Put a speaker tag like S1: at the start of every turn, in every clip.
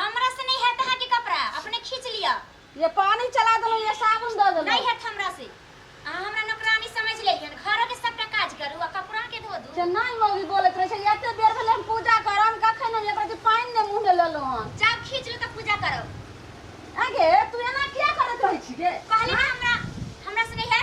S1: हमरा
S2: से नहीं है तहाँ के कपड़ा अपने खींच लिया ये पानी चला
S1: दलो ये साबुन दे दलो नहीं है हमरा से
S2: अहाँ हमरा नौकरानी समझ लेलियन घरो के सबटा काज करू आ कपड़ा के धो दू से नहीं मौगी बोलत रहे
S1: छै एते देर भेले हम पूजा करम कखन हम एकरा के पानी ने मुंह में लेलो हन जाब खींच लो तो पूजा
S2: करो आगे
S1: तू एना किया करत रहै छी गे कहली ना हमरा
S2: हमरा से नहीं है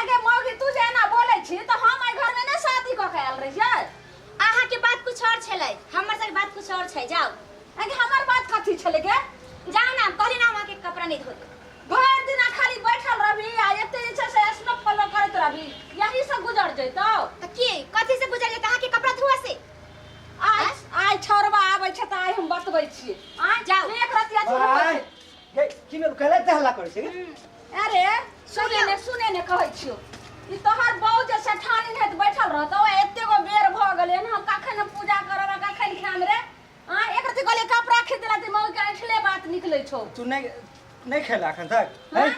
S2: आगे मौगी
S1: तू जे एना बोलै छी तऽ हम एहि घरमे नहि शादी कऽ के आयल रहियै अहाँ के बात
S2: कुछ और छलै हमर सबके बात कुछ और छै जाओ आगे हमर बात
S1: कथी छलै गे जाओ ना कहली
S2: ना वहाँ के कपड़ा नहीं धोते भरि दिना खाली
S1: बैठल रहबी आ एते जे छै से स्नो फॉलो करैत रहबी यही से गुजर जैतौ तो की कथी
S2: से गुजर जाता के कपड़ा धुआ से आइ
S1: आइ छौरबा आबै छै तऽ आइ हम बतबै छियै आइ जाओ। एक रतिया तू
S2: आइ। बैठ।
S1: हे की में
S3: कहले त हल्ला करे छै अरे
S1: सुने ने सुने ने कहै छियो ई तोहर बहू जे सेठानी हेत बैठल रहत ओ एते गो बेर भ गेलै हन हम कखन हम पूजा करब आ कखन खाएम रे आ एक रति कहले कपड़ा खींच देला त मौगी के ऐठले बात निकलै छौ तू नहीं
S3: नहीं खेला अखन तक हैं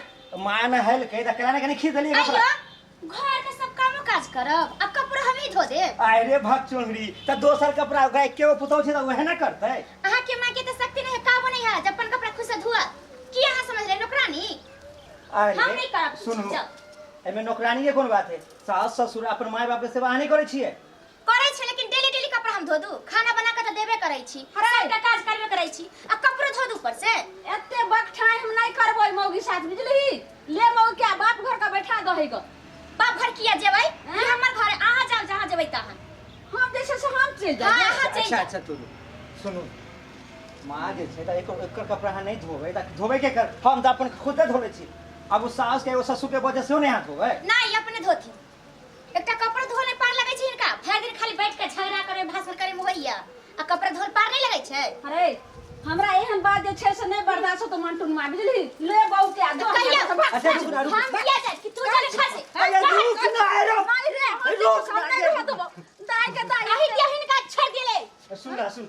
S3: माय ने हल कहि त केला ने कनी खींच देली कपड़ा आइयो घर के सब
S2: कामो काज करब आ कपड़ा हम ही धो देब आय रे भक चोंगरी
S3: त दोसर कपड़ा ओकरा के वो पुतौ छै त वहे ना करते अहाँ के माँ के तो
S2: शक्ति नहीं है काबू नहीं है जब अपन कपड़ा खुद से धुआ की अहाँ समझ रहे नौकरानी आय हम नहीं करब कुछ, सुनू जाओ।
S3: एमे
S2: नौकरानी के
S3: कोन बात है सास ससुर अपन माय बाप के सेवा अहाँ नहीं करै छियै करै छी लेकिन
S2: डेली डेली कपड़ा हम धो दू खाना बना के त देबे करै छी अरे। सबटा काज करबे करै छी आ कपड़ो धो दू ऊपर से एते बकठाई
S1: हम नहीं करबो मौगी साथ बुझली ले मौगी के बाप घर का बैठा दहे ग बाप घर किया
S2: जेबै ई हमर घर है, अहाँ जाओ जहाँ जेबै तहाँ हम जैसे से हम चल हाँ,
S1: जाए अहाँ चलि अच्छा जाउ। अच्छा
S2: तू
S3: सुनू माँ जे छै तऽ एकर एकर कपड़ा अहाँ नहि धोबै तऽ धोबै के कर हम तऽ अपन खुदे धोले छी अब उ सास के एगो ससुर के वजह से नहि हाथ धोबै नहीं अपने धोती
S2: एकटा कपड़ा धोल नहि पार लगै छै हिनका भरि दिन खाली बैठ के झगड़ा करे भाषण करे में होइया आ कपड़ा धोल पार नहीं लगै छै अरे हमरा
S1: एहन बात जे छै से नहि बर्दाश्त होतो मंटून मार बुझली ले बहू के आ दो कहिया हमरा भाग। अच्छा, रुक ना, रुक।
S3: हम किया जाए कि तू चले
S2: खा से अरे रुक ना ए
S3: रो माई रे, हम रुक ना
S1: सामने ए। रह देबो। दाई के दाई। अही के हिनका छोड़
S2: दिले सुन ना सुन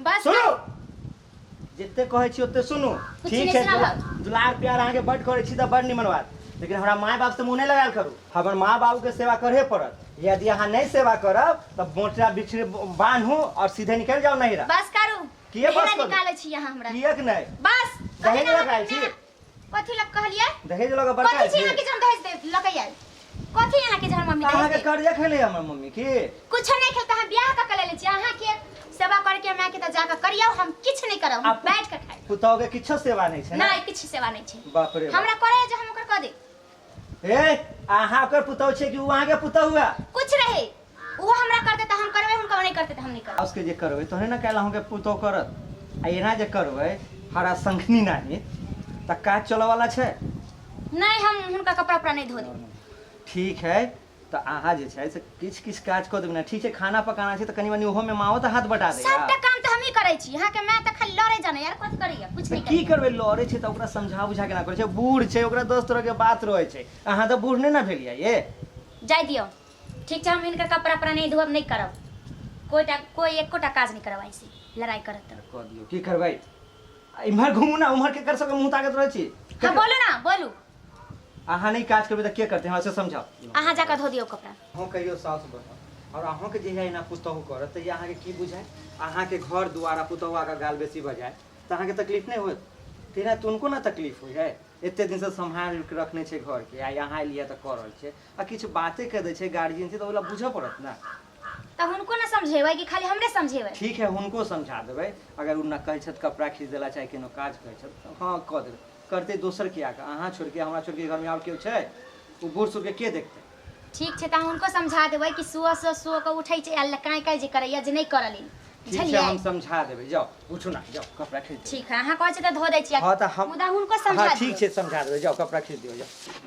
S3: बस सुनू जते कहै छी ओते सुनू कुछ ठीक छै सुनैत
S2: रहब। दुलार
S3: प्यार
S2: अहाँके
S3: बड्ड करै छी तऽ बड्ड निमन बात लेकिन हमरा माय बापसँ मुँह नहि लगायल करू हमर माँ बाबूके सेवा करहे पड़त यदि अहाँ नहि सेवा करब तऽ बोटरा बिछड़े बान्हू आओर सीधे निकलि जाउ नहिरा बस करू किए
S2: बस नहिरा करू? निकालै
S3: छी अहाँ हमरा किएक
S2: नहि बस
S3: दहेज अभी
S2: लऽ कऽ आयल छी?
S3: हमरा- कथी लग
S2: कहलिए दहेज लगा कथी बड़का छी
S3: यहाँ के जम दहेज दे
S2: लकई आइल कथी यहाँ के जम मम्मी कहाँ दहेज के दे कर्जा खेले हमर मम्मी
S3: की कुछ नहीं खेलता हम
S2: ब्याह का कले ले छी अहाँ के सेवा करके हमरा के त जाके करियो हम किछ नहीं करब हम आप- बैठ के खाई पुतौ के किछो सेवा
S3: नहीं छै ना नहीं किछ सेवा नहीं छी
S2: बाप रे बाप। हमरा करे जे
S3: हम ओकर क
S2: दे ए
S3: अहाँ ओकर पुतहु छियै कि ओ अहाँके पुतहु हुआ कुछ रहे
S2: वो हमरा करते
S3: तो
S2: हम
S3: करबे
S2: उनका वो
S3: नहीं
S2: करते तो हम
S3: नहीं
S2: करबे
S3: उसके
S2: जे
S3: करबै
S2: तोहने
S3: ने
S2: काल्हि अहूँके पुतहु करत आ
S3: एना जे करबै हरा संखनी नाही तऽ काज चलऽवला छै नहीं हम
S2: उनका कपड़ा उपड़ा नहीं धो देंगे ठीक है
S3: तऽ अहाँ जे छै से किछु किछु काज कऽ देबै ने ठीक छै खाना पकाना छै तऽ कनि मनि ओहोमे माँओ तऽ हाथ बटा देगा सबटा काम तऽ हमही करै
S2: छी अहाँ के माय तऽ खाली लड़े जाने यार कथि करैया कुछ तऽ नहीं की करैया करबै लड़ै छै तऽ ओकरा
S3: समझा बुझा केना करै छै बूढ़ छै ओकरा दस तरहके बात रहै छै अहाँ तऽ बूढ़ नहि ने भेलियै ये जाय दियो
S2: ठीक छै हम इनकर कपड़ा पर नहीं धोब नहीं करब कोई टा कोई एकोटा काज नहीं करब ऐसे लड़ाई करत तऽ कऽ दियौ की करबै
S3: आ इम्हर घुमू ने उम्हर केकर सबके मुँह ताकैत रहै छी हम बोलू ना बोलू
S2: अहाँ
S3: नहीं काज करबे तो के करते हमरा से समझाओ अहाँ जाकर धो दियो
S2: कपड़ा अहूँ कहियो साउस
S3: बनब और अहूँ के जहिया एना पुतहु करत तऽ अहाँ के की बुझाय अहाँ के घर दुआरा पुतहुआ के गाल बेसी बजाय तऽ अहाँ के तकलीफ नहीं होत तेना तऽ उनको ना तकलीफ होइ है एते दिन से सम्हार के रखने छै घर के आई अहाँ एलियै तऽ कऽ रहल छै आ किछु बाते कह दै छै गार्जियन से तऽ ओला बुझऽ पड़त ना तब उनको
S2: ना समझेबै कि खाली हमरे समझेबै ठीक है हुनको समझा
S3: देबै अगर ओ ना कहै छथि कपड़ा खींच देला चाहे कोनो काज कहै छथि तऽ हँ कऽ देबै करतै दोसर के आके अहाँ छोड़ के हमरा छोड़ के घर में और केओ छै ओ बूढ़ सूढ़ के के देखतै ठीक छै तऽ हम हुनको
S2: समझा देबै कि सुअ सुअ सुअ के उठै छै आ काँय काँय जे करैया जे नहि करऽ लेल ठीक छै बुझलियै हम
S3: समझा देबै जाओ उठू ना जाओ कपड़ा खींच दियौ ठीक है अहाँ कहै छी तऽ धो दै
S2: छी हाँ तऽ हम मुदा हुनको हाँ
S3: समझा ठीक दियौ
S2: छै समझा देबै जाओ
S3: कपड़ा खींच दियौ जाओ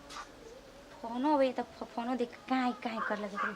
S2: फोनो अबैए तऽ फोनो देख कऽ काँय काँय करय लगैए